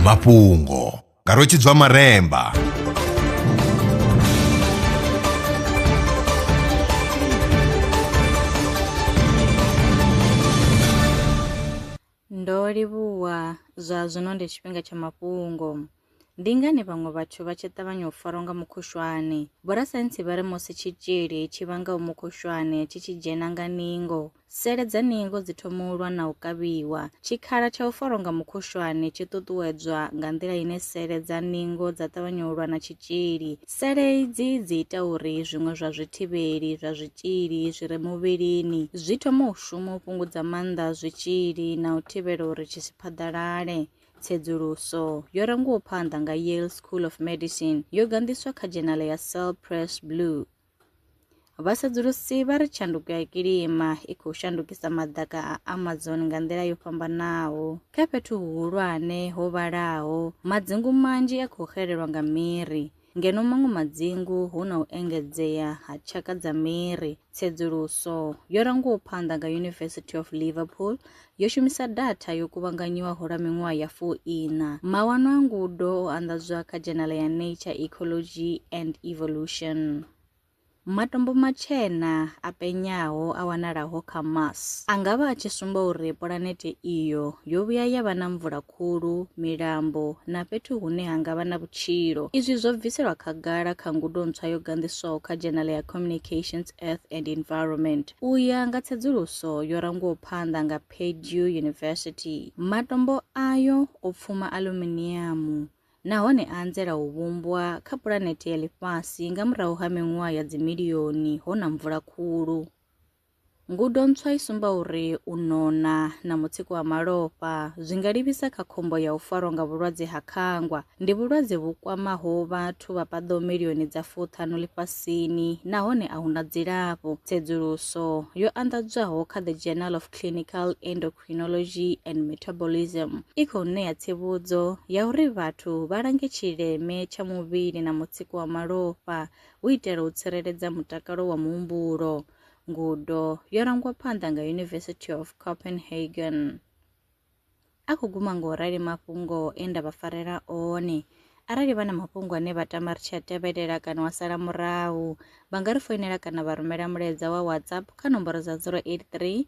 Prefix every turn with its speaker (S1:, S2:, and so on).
S1: mafhungo nga rwetshidzwa maremba
S2: ndo livhuwa zwa zwino ndi tshifhinga tsha mafhungo Ndi ngani vhaṅwe vhathu vha tshi ṱavhanya u farwa nga mukhushwane? Vhorasaintsi vha ri musi tshitzhili tshi vhangaho mukhushwane tshi tshi dzhena nga ningo, sele dza ningo dzi thoma u lwa na u kavhiwa. Tshikhala tsha u farwa nga mukhushwane tshi ṱuṱuwedzwa nga nḓila ine sele dza ningo dza ṱavhanya u lwa na tshitzhili. Sele idzi dzi ita uri zwiṅwe zwa zwithivheli zwa zwitzhili zwi re muvhilini zwi thome u shuma u fhungudza maanḓa a zwitzhili na u thivhela uri tshi si phaḓalale. Tsedzuluso yo rangiwaho phanḓa nga Yale School of Medicine yo ganḓiswa kha dzhenale ya Cell Press Blue. Vhasedzulusi vha ri tshanduko ya kilima i khou shandukisa maḓaka a Amazon nga nḓila yo fhambanaho. Kha fhethu huhulwane ho vhalaho, madzingu manzhi a khou xelelwa nga miri, Ngeno maṅwe madzingu hu na u engedzea ha tshaka dza miri, tsedzuluso yo rangiwaho phanḓa nga University of Liverpool yo shumisa datha yo kuvhanganyiwaho lwa miṅwaha ya fu iṋa. Mawanwa a ngudo o anḓadzwa kha dzhenala ya Nature, Ecology and Evolution. Matombo matshena a penyaho a wanalaho kha Mars a nga vha a tshi sumba uri pulanete iyo yo vhuya ya vha na mvula khulu, milambo na fhethu hune ha nga vha na vhutshilo. Izwi zwo bviselwa khagala kha ngudo ntswa yo ganḓiswaho kha dzhenala ya Communications, Earth and Environment. U ya nga tsedzuluso yo rangwaho phanḓa nga Purdue University, matombo ayo o pfuma aluminiamu, nahone a anzela u vhumbwa kha pulanete ya ḽifhasi nga murahu ha miṅwaha ya dzimilioni ho na mvula khulu. Ngudo ntswa i sumba uri u nona na mutsiko wa malofha zwi nga livhisa kha khombo ya u farwa nga vhulwadze ha khangwa. Ndi vhulwadze vhu kwamaho vhathu vha paḓaho milioni dza fuṱhanu ḽifhasini nahone a hu na dzilafho. Tsedzuluso yo anḓadzwaho kha The Journal of Clinical Endocrinology Endocrinology and Metabolism i khou ṋea tsivhudzo ya uri vhathu vha lange tshileme tsha muvhili na mutsiko wa malofha hu itela u tsireledza mutakalo wa muhumbulo. Ngudo yo rangwa phanḓa nga University of Copenhagen. A khou guma ngo rali mafhungo e nda vha farela one. Arali vha na mafhungo ane vha tama ri tshi a tevhelela kana wa sala murahu, vha nga ri foinela kana vha rumela mulaedza wa WhatsApp kha nomboro dza 083